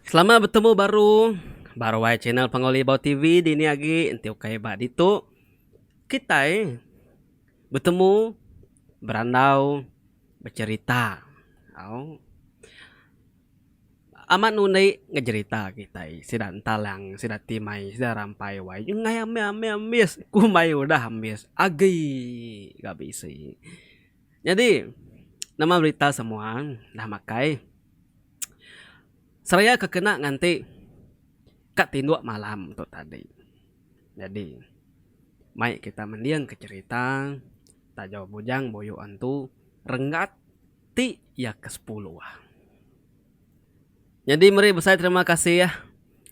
Selamat betemu baru ba ruai channel Pangawi Libau TV dini agi enti ukai ba ditu kitai betemu berandau becherita au. Amat nundi ngejerita kitai sida entalang sida ti mai sida rampai wai ngai ambi ambi ambis ku mai udah ambis agi ga bisi. Nyadi nama berita semua dah makai seraya ke kena nganti ka tinduk malam tu tadi. Nyadi mai kita mending ke cherita taja bujang buyu antu renggat. ti iya ke sepuluh ah. Nyadi meri besai terima kasih ah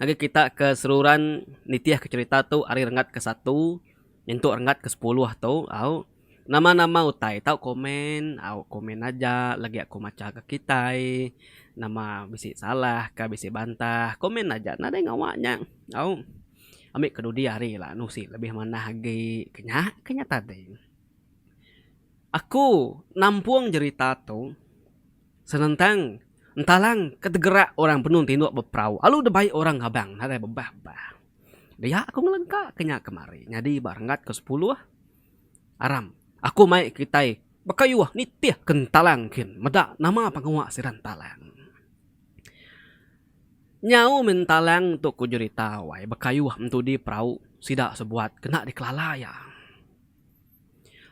ngagai kita ke seruran nitih ke cerita tu ari renggat ke satu nyentuk renggat ke sepuluh tu au. Nama nama utai tau komen au komen aja lagi aku macha ke kitai nama bisi salah ka bisi bantah komen aja nadai ngawa nya au. Ami ke dudi ari la nusi lebih manah agi ke nya ke nya tadi. Aku nampung jerita tu senentang entalang ke degerak orang benung tinduk beperau alu debai orang abang nadai bebah-bah. Dia aku ngelengka ke nya kemari nyadi ba renggat ke sepuluh aram aku mai kitai bekayuh nitih ke entalang kin meda nama pengawa sida entalang. Nyau mih entalang tu ku jerita wai bekayuh entudi perau sida sebuat kena dikelala iya.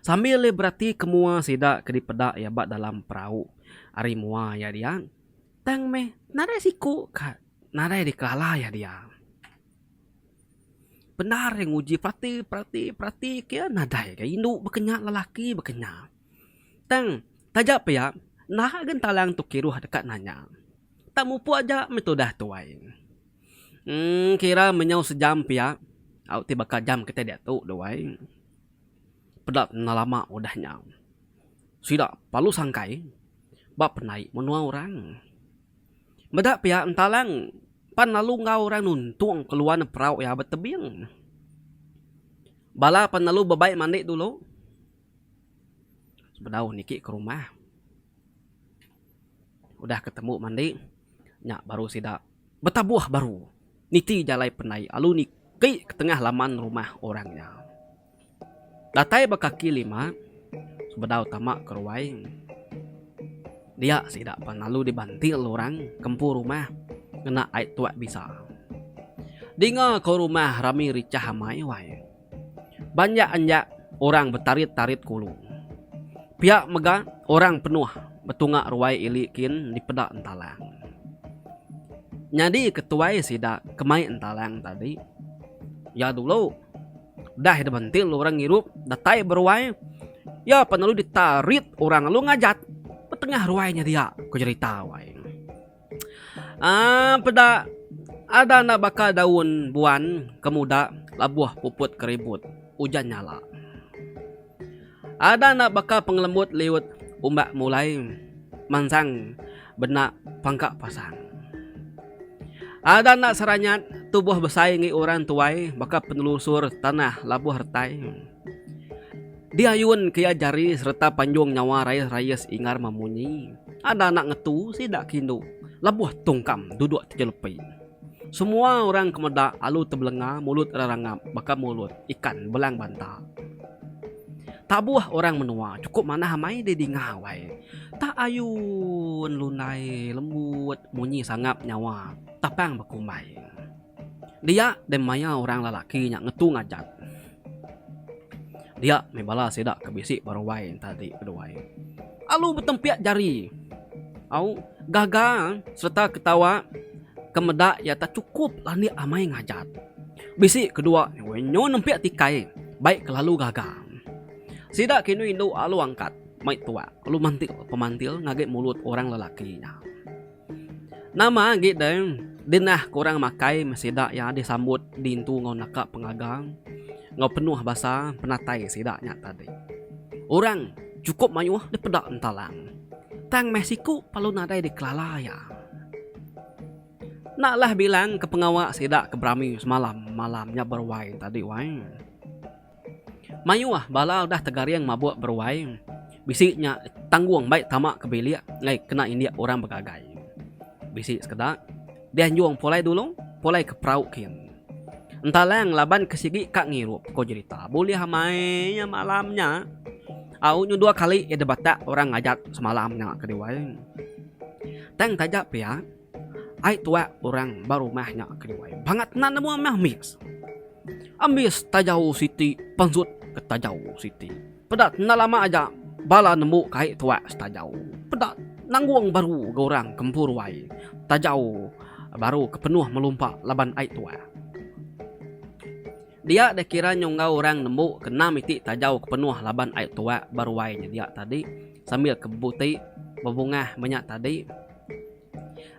Sambil iya berati ke mua sida ke dipeda iya ba dalam perau ari mua iya dia, tang meh nadai siku ka nadai dikelala iya dia. Bendar iya nguji perati perati perati ke iya nadai ga indu baka nya lelaki baka nya. Tang, taja pia, naha gentalang tu kiruh deka nanya. Tak mupuk aja meh tudah tuai. Emm kira menyau sejam pia au ti baka jam kitai diatu duai. Peda tena lama udah nya. Sida palu sangkai ba penai menua orang. Meda pia entalang pan lalu enggau orang nuntung keluan neg perau iya ba tebing. Bala pan lalu bebai mandi dulu. Bedau niki ke rumah udah ketemu mandi nya baru sida betabuh baru niti jalai pandai lalu niti tengah laman rumah orang nya. Datai ba kaki lima bedau tama ke ruai dia sida pan lalu dibantil orang ke empu rumah ngena ai tuak bisa. Dinga ko rumah rami richah amai wai. Banjak anja orang betarit-tarit kulu. Pia mega orang penuh betunga ruai ili kin dipeda entalang. Nyadi ketuai sida ke mai entalang tadi iya dulu udah dibentil orang ngirup datai beruai iya pan lalu ditarit orang lalu ngajat betengah ruai nya dia ku jerita wai. Aaa peda ada enda baka daun buan ke muda labuh puput ke ribut ujan nyala. Ada enda baka pengelembut liut umbak mulai mansang benda pangka pasang. Ada enda seranyat tubuh besai ngi orang tuai baka penelusur tanah labuh retai. Diayun ke iya jari sereta panjung nyawa rayis-rayis Ingar Mamunyi. Ada anak ngetu sida ke indu lebuh tungkam duduk tejelepi. Semua orang ke meda alu tebelenga mulut rerangap baka mulut ikan belang banta. Tabuh orang menua chukup manah amai deh dinga wai. Tak ayun lunai lembut munyi sangap nyawa tapang bekumbai. Dia deh maya orang lelaki nya ngetu ngajat. Dia meh bala sida ke bisi ba ruai enta ati keduai. Alu betempik jari. Au, gaga sereta ketawa ke meda iya tak chukup landik amai ngajat. Bisi kedua nyu nempik tikai bai kelalu gaga. Sida ke indu-indu alu angkat mai tuak lalu mantil-pemantil ngagai mulut orang lelaki nya. Nama agi deh dinah kurang makai meh sida iya disambut dintu enggau naka pengaga enggau penuh basa penatai sida nya tadi. Orang chukup mayuh dipeda entalang tang meh siku lalu nadai dikelala iya. Enda lah bilang ke pengawa sida ke berami semalam malam nya beruai tadi wai. Mayuh bala udah tegaring mabuk beruai, bisi nya tanggung mbai tama ke bilik enggau kena indik orang begagai. Bisi sekeda, deh nyung pulai dulu, pulai ke perau kin. Entalang laban ke sigi ka ngirup, ko jerita. Bulih amai iya malam nya. Au nyu dua kali iya dibatak orang ngajat semalam nya ke diwai. Tang taja pia. Ai tuak orang ba rumah nya ke nyuai bangat nan nemu meh ambis. Ambis tajau siti pansut ke tajau siti. Peda enda lama aja bala nembu ke ai tuak setajau. Peda nanggung baru ga orang ke empu ruai tajau baru ke penuh melumpa laban ai tuak. Dia deh kira nyungau orang nembu ke enam iti tajau ke penuh laban ai tuak ba ruai nya dia tadi sambil ke buti bebungah menya tadi.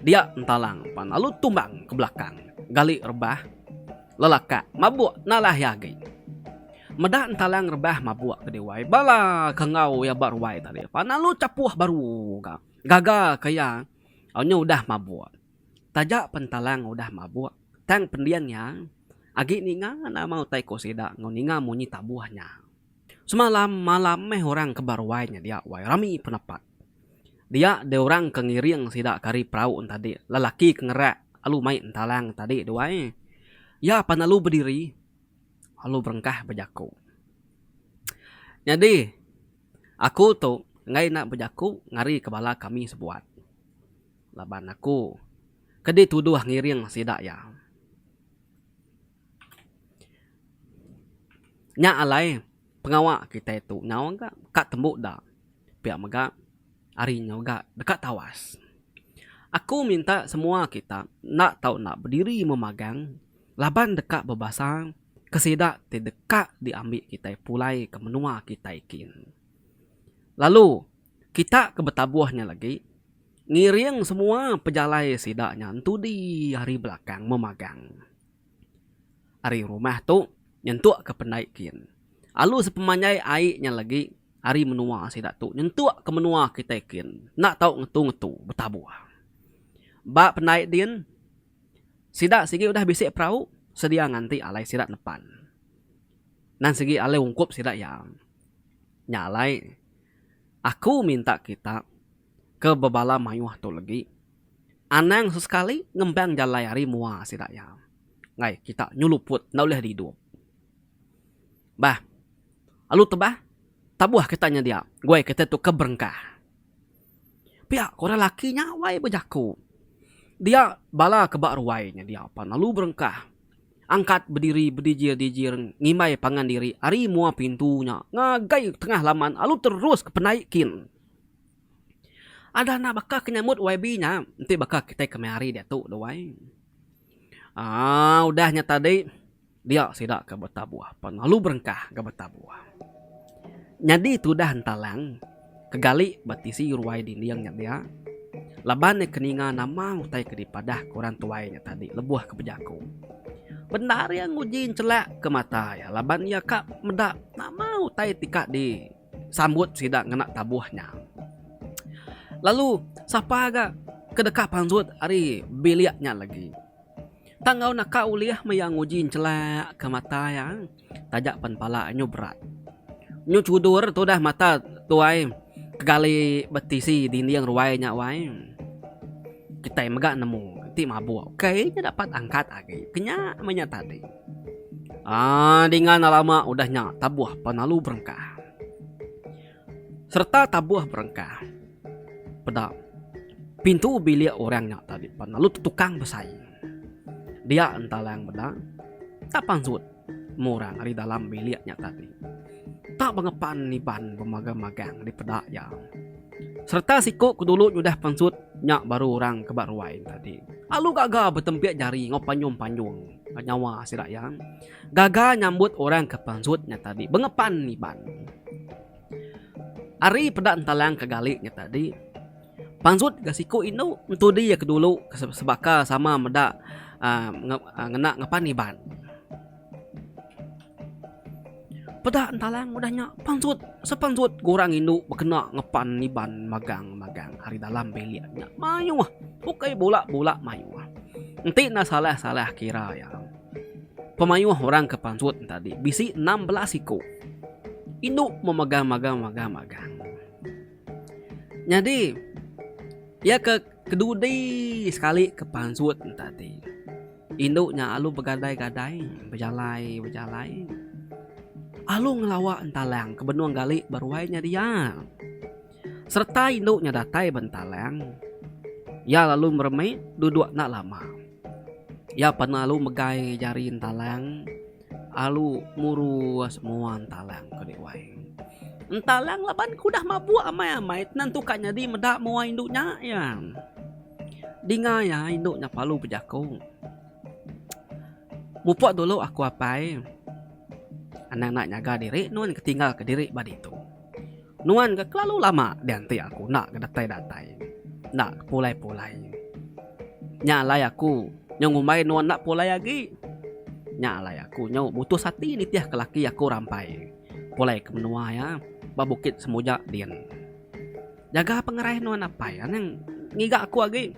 Dia entalang pan lalu tumbang ke belakang gali rebah lelakak mabuk nalah iya agi. Meda entalang rebah mabuk ke diwai bala ke enggau iya ba ruai tadi pan lalu chapuh baru ga gaga ke iya onyo udah mabuk. Taja pen entalang udah mabuk tang pending iya agi ninga nama utai ko sida enggau ninga munyi tabuh nya. Semalam malam meh orang ke ba ruai nya dia wai rami penapa. Dia deh orang ke ngiring sida ke ari perau en tadi. Lelaki ke ngerak lalu mai entalang tadi tu ai. Iya pan lalu bediri lalu berengkah bejaku. Nyadi aku tu enggai enda bejaku ngarika bala kami sebuat laban aku ke dituduh ngiring sida iya. Nya alai pengawa kitai tu nyau ga ka tembu da pia mega hari nyau ga deka tawas. Aku minta semua kita enda tau enda bediri memagang laban deka bebasa ke sida ti deka diambi kitai pulai ke menua kitai kin. Lalu kita ke betabuh nya lagi ngiring semua pejalai sida nya entudi hari belakang memagang. ari rumah tu nyentuk ke pendai kin. Alu sepemanjai ai nya legi ari menua sida tu nyentuk ke menua kitai kin enda tau ngetu-ngetu betabuh. Ba pendai din sida sigi udah bisi perau sedia nganti alai sida nepan. Nan sigi alai ungkup sida iya nya alai aku minta kita. Ke bebala mayuh tu legi, anang sesekali ngembang jalai ari mua sida iya enggai kita nyeluput enda ulih didup. Bah lalu tebah tabuh kita nyedia guai kita tu ke berengkah. Pia ko orang laki nya wai bejaku dia bala ke ba ruai nyedia pan lalu berengkah angkat bediri bedijir-dijir ngimbai pangan diri ari mua pintu nya ngagai tengah laman lalu terus ke penai kin. Adah enda baka ke nyambut YB nya enti baka kitai ke meh hari diatu tu ai. aaa udah nya tadi dia sida ke betabuh pan lalu berengkah ke betabuh. Nyadi tudah entalang ke gali ba tisi ruai dinding nya dia laban iya ke ninga nama utai ke dipadah ke orang tuai nya tadi lebuh ke bejaku. Bendar iya nguji nchelak ke mata iya laban iya ka meda nama utai ti ka di. Sambut sida ngena tabuh nya. Lalu sapa ga ke deka pansut ari bilik nya lagi. Tang enggau naka ulih maya nguji nchelak ke mata iya taja pen pala nyu berat. Nyu chudur tudah mata tuai kegali betisi dinding ruai nya wai. Kitai mega nemu ti mabuk. Ukai nya dapat angkat agi. Kenya menya tadi. Aa dingan alama udah nya tabuh penalu berengkah. Sereta tabuh berengkah. Peda. Pintu bilik orang nya tadi penalu tetukang besai. Dia entalang meda, tak pansut meh orang ari dalam bilik nya tadi. Tak bengepan niban bemagang-magang dipeda iya. Sereta siku ke dulu nyudah pansut nya baru orang ke ba ruai nya tadi. Alu gaga betempik jari enggau panyung-panyung. nyawa sida iya gaga nyambut orang ke pansut nya tadi bengepan iban ari peda entalang ke gali nya tadi pansut ga siku indu entudi iya ke dulu sebaka sama meda aaa ngena ngepan iban. Peda entalang udah nya pansut sepansut ke orang indu bekena ngepan Iban magang magang ari dalam bilik nya mayuh ukai bula bula mayuh. Enti enda salah salah kira iya pemayuh orang ke pansut nya tadi bisi enam belas iku indu memegang magang magang magang. Nyadi iya ke kedudi sekali ke pansut nya tadi. Indu nya alu begadai-gadai bejalai-bejalai alu ngelawa entalang ke benung gali ba ruai nya dia. Sereta indu nya datai ba entalang, iya lalu meremit duduk enda lama. Iya panu alu megai jari entalang. Alu murus mua entalang ke dek wai. Entalang laban ke udah mabuk amai-amai tenang tu ka nyadi meda mua indu nya iya. Dinga iya indu nya palu bejaku. Mupok dulu aku apai. Anang enda nyaga diri nuan ke tinggal ke diri ba ditu. Nuan ga kelalu lama dianti aku enda ga datai-datai, enda ga pulai-pulai. Nya alai aku nyau ngumbai nuan enda pulai agi. Nya alai aku nyau mutus ati nitihka laki aku rampai pulaika menua iya ba Bukit Semuja din. Jaga pengerai nuan apai ngiga aku agi.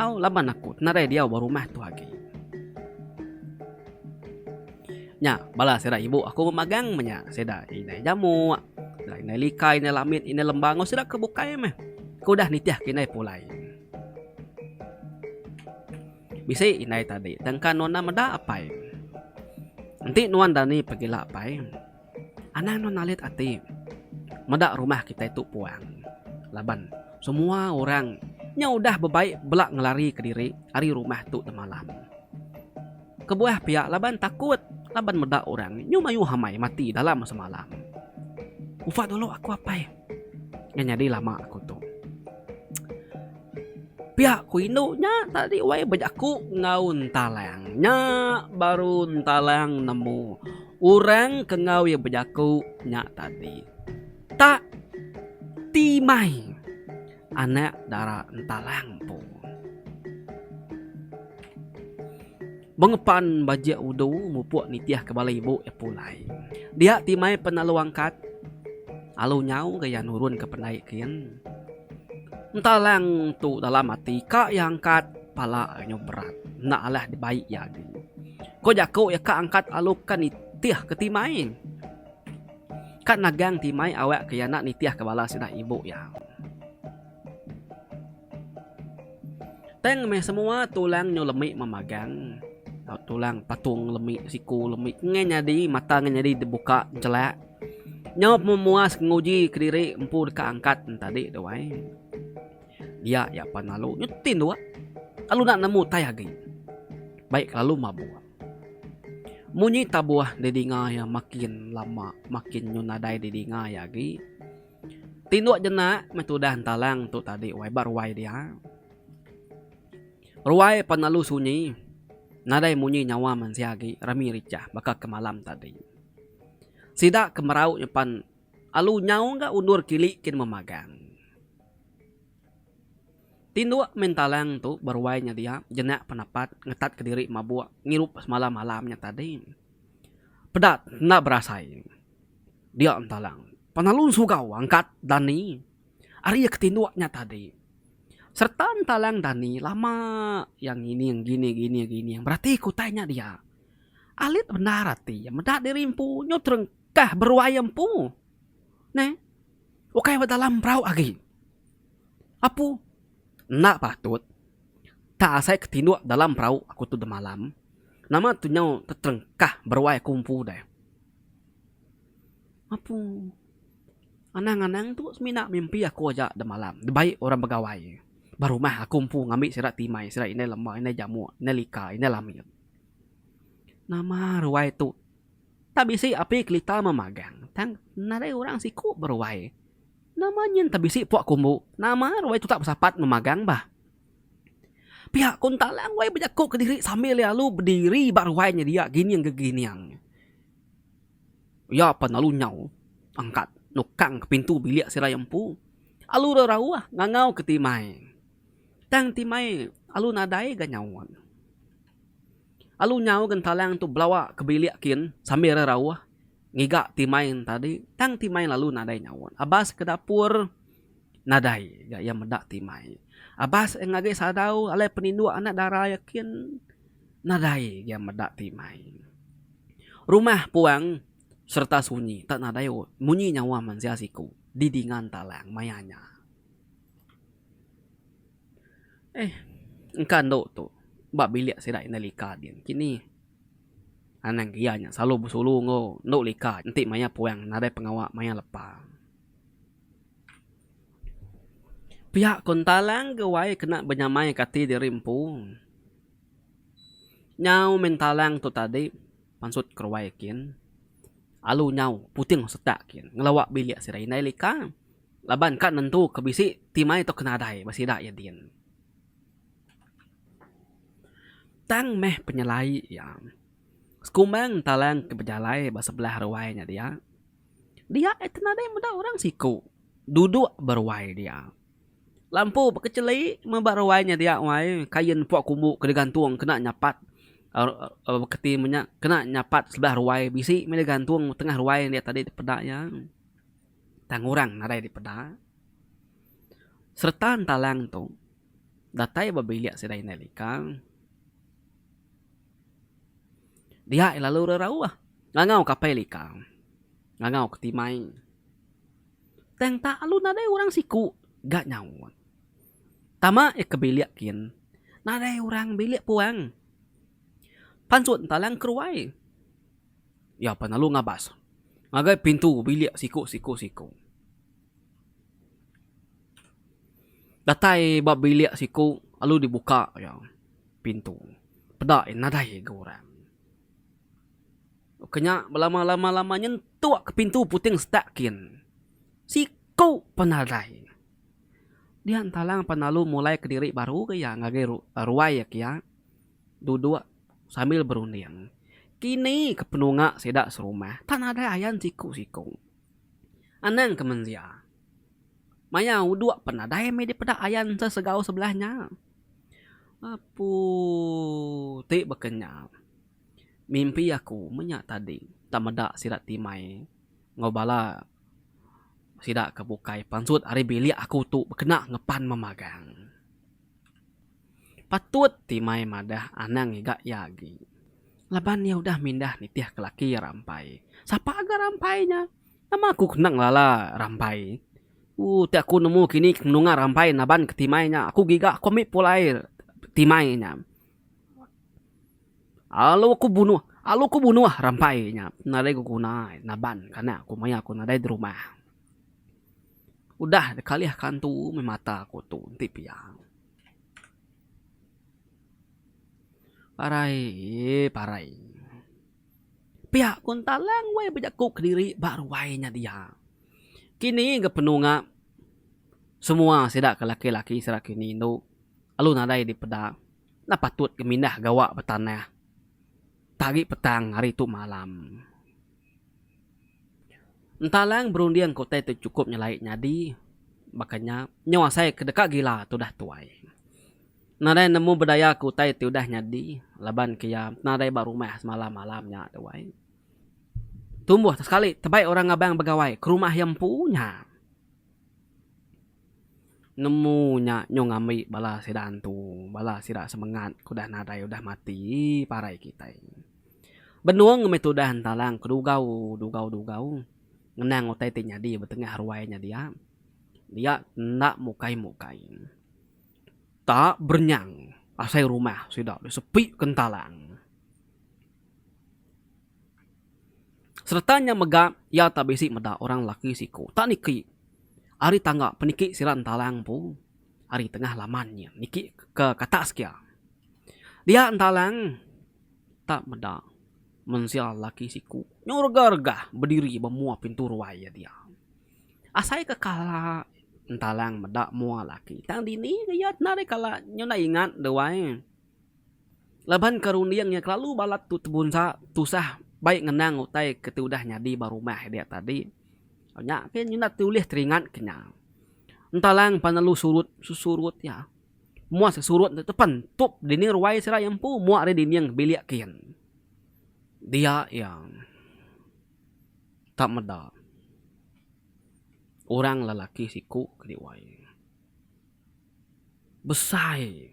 Au laban aku tenarai diau ba rumah tu agi. Nya, bala sida ibu aku bemagang menya. Sida indai jamuk, sida indai lika, indai lamit, indai lembang enggau sida ke bukai meh ke udah nitihka indai pulai. Bisi indai tadi tangka nuan enda meda apai. Enti nuan dani pegila apai. Anang nuan alit ati meda rumah kitai tu puang laban semua orang nya udah bebai bela ngelari ke diri ari rumah tu temalam. Kebuah pia laban takut laban meda orang nyu mayuh amai mati dalam semalam. Ufa dulu aku apai. Nya nyadi lama aku tu. Pia ku indu nya tadi wai bejaku enggau Entalang. Nya baru Entalang nemu orang ke enggau iya bejaku nya tadi tak ti mai. Anak dara entalang empu. Bengepan bajik udu mupuk nitih ke bala ibu iya pulai. Dia ti mai pen alu angkat alu nyau ga iya nurun ke pendai kin. Entalang tu dalam ati ka iya angkat pala iya nyau berat enda alah dibai iya agi. Ko jaku iya ka angkat alu ka nitih ke ti mai. Ka nagang ti mai awak ke yana nitih ke bala sida ibu ya. Tang meh semua tulang nyu lemi memagang tulang patung lemi siku lemi nge nyadi mata nge nyadi dibuka jelak nyu memuas nguji kediri empu deka angkat tadi tu ai. Dia ya pan lalu nyu tin dua lalu enda nemu tai agi. Baik lalu mabuk. Munyi tabuh didinga iya makin lama makin nyun nadai didinga iya agi. Tinduk jenak meh tudah entalang tu tadi wai ba ruai dia. Ruai pan lalu sunyi nadai munyi nyawa mensia agi rami richah baka ke malam tadi. Sida ke merau nya pan alu nyau ga undur kili kin memagang. Tinduk Mintalang tu beruai nya dia jenak penapat ngetatka diri mabuk ngirup semalam malam nya tadi. Peda enda berasai dia Mintalang penalun sugau angkat dani ari iya ke tinduk nya tadi sereta Mintalang dani lama iya ngining gini gini gini berati ke utai nya dia alit bendar ati iya meda diri empu nyu terengkah beruai empu. Neh. Ukai ba dalam perau agi. Apu. Enda patut. Tak asai ke tinduk dalam perau aku tu demalam. Nama tu nyau teterengkah beruai aku empu deh. Apu. Anang anang tu semina mimpi aku aja demalam. Dibai orang begawai. Ba rumah aku empu ngambi sida timai, sida indai lema, indai jamuk, indai lika, indai lamit. Nama ruai tu. Tang bisi api kelita memagang. Tang nadai orang siku beruai. Nama nyin tang bisi puak kumbu. Nama ruai tutak besapat memagang bah. Pia kun talang ruai bejaku kediri sambil lalu bediri ba ruai nya dia gining ke gining. Iya pan lalu nyau angkat nukang ke pintu bilik sirai empu. Alu rerauh ngangau ke timai. Tang timai alu nadai ga nyaut. Alu nyau ke entalang tu belawa ke bilik kin sambil re rauh ngiga ti main tadi tang ti main lalu nadai nyaut. Abas ke dapur nadai ga iya meda ti mai. Abas iya ngagai sadau alai peninduk anak dara iya kin nadai ga iya meda ti mai. Rumah puang sereta sunyi tak nadai munyi nyawa mensia siku di dinga entalang maya nya. Eh, engka endo tu ba bilik sida indah lika din engki ni. Anang ke iya nya selalu besulu enggau endo lika enti mayar puang nadai pengawa mayar lepa. Pia ko enta lang ga wai kena benyamai ka ati diri empu. Nyau mih entalang tu tadi pansut ke ruai kin alu nyau puting setak kin ngelawa bilik sida indah lika. Laban ka nentu ke bisi ti mai tau ke nadai ba sida iya din. Tang meh penyelai iya, sekumbang talang ke bejalai ba sebelah ruai nya dia, dia iya ti nadai meda orang siku duduk ba ruai dia. Lampu bekecheli meh ba ruai nya dia wai, kain pok kumbu ke digantung kena nyapat aaa baka ti menya kena nyapat sebelah ruai bisi meh digantung tengah ruai nya tadi peda iya. Tang orang nadai dipeda sereta entalang tu datai ba bilik sida indai lika dia iya lalu rerauh ngangau ke apai lika ngangau ke timai tang tak lalu nadai orang siku ga nyaut tama iya ke bilik gin nadai orang bilik puang pan sut entalang ke ruai. Iya pan lalu ngabas ngagai pintu bilik siku siku siku. Datai ba bilik siku lalu dibuka iya pintu. Peda iya nadai ga orang. Ke nya belama lama lama nyentuk ke pintu puting setak kin. Siku pun nadai. Dian talang pan lalu mulaika diri baru ga iya ngagai ruai iya ke iya. Duduk sambil berunding. Kini ke penunga sida serumah tang nadai ayan siku-siku. Anang ke menzia. Maya uduk pen nadai meh dipeda ayan sesegau sebelah nya. Apu ti bekenyau. Mimpi aku menya tadi enda meda sida ti mai enggau bala sida ke bukai pansut ari bilik aku tu bekena ngepan memagang. Patut ti mai madah anang ngiga iya agi laban iya udah mindah nitih ke laki iya rampai. Sapa ga rampai nya? Nama aku kendang lala rampai. Ooh ti aku nemu kini ke menunga rampai naban ke timai nya aku giga aku ambi pulai timai nya. Alu ku bunuh alu ku bunuh rampai nya nadai beguna naban kana ku maya ku nadai di rumah. Udah da kalih ka antu meh mata ku tu enti pia. Parai eee parai. Pia ku entalang wei bejaku kediri ba ruai nya dia. Kini ga penunga semua sida ke laki laki sida ke bini indu lalu nadai dipeda enda patut ke mindah gawa betanah agi petang hari tu malam. Entalang berunding ke utai tu chukup nyelai nyadi baka nya nyau asai ke deka gila tu udah tuai. Nadai nemu bedaya ke utai ti udah nyadi laban ke iya nadai ba rumah semalam-malam nya tuai. Tumbuh sekali tebai orang ngabang begawai ke rumah iya empu nya. Nemu nya nyung ambi bala sida antu, bala sida semengat ke udah nadai udah mati parai kitai. Benung ngambika tudah entalang ke dugau dugau dugau ngenang utai ti nyadi ba tengah ruai nya dia. Dia enda mukai mukai. Tak berenyang asai rumah sida disepika entalang. Sereta nya mega iya tak bisi meda orang lelaki siko tak niki ari tangga peniki sida Entalang empu ari tengah laman nya niki ke kata sekia. Dia Entalang tak meda mensia lelaki siko nyu regah-regah bediri ba mua pintu ruai iya dia. Asai ke kala Entalang meda mua lelaki tang dini ke iya kala nyu enda ingat deh wai. Laban ke runding iya kelalu balat tu tebunsa tusah bai ngenang utai ke ti udah nyadi ba rumah iya diak tadi. Nya pia iya enda ulih teringat ke nya. Entalang pan lalu surut sesurut iya. Moa sesurut ntu pan tup dinding ruai sida iya empu moa ari dinding bilik kin. Diak iya tak meda orang lelaki siku ke diwai. Besai.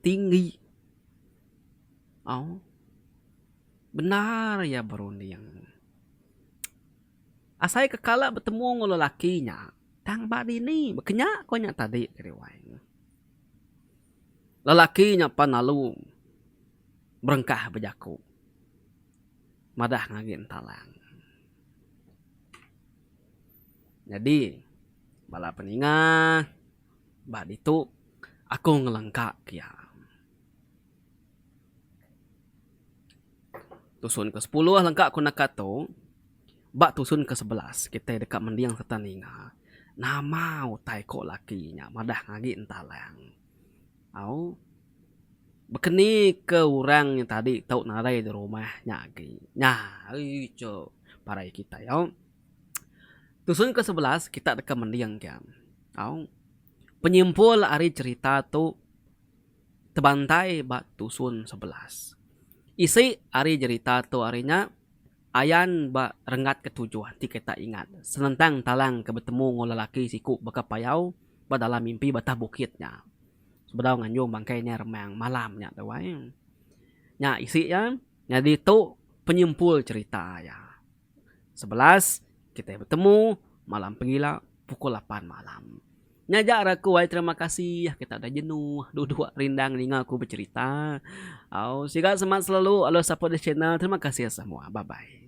Tinggi. Au. Bendar iya berunding. Asai ke kala betemu enggau lelaki nya, tang ba dini baka nya ku nya tadi Kari Wai. Lelaki nya pan lalu berengkah bejaku madah ngagin talang. Nyadi, bala peninga ba ditu aku ngelengka ke iya. Tusun ke sepuluh lengka ku naka tu, ba tusun ke sebelas kitai deka mending sereta ninga nama utai ko laki nya madah agi entalang. Au. Bekeni ke orang nya tadi tau narai di rumah nya agi. Nya ai cu parai kitai au. Tusun ke sebelas kita deka mending ke au penyimpul ari cerita tu tebantai ba tusun sebelas. Isi ari jerita tu ari nya ayan ba renggat ke tujuh ti kita ingat senentang talang ke betemu enggau lelaki siku baka payau ba dalam mimpi batah bukit nya. sebedau nganjung bangkai nya remang malam nya tu ai. Nya isi iya nyadi tu penyimpul cerita iya. Sebelas kitai betemu malam pengila pukul lapan malam. Nya aja ra aku ai terima kasih kita udah jenuh duduk rindang ninga aku becerita. Au siga semangat selalu alus support this channel. Terima kasih semua. Bye bye.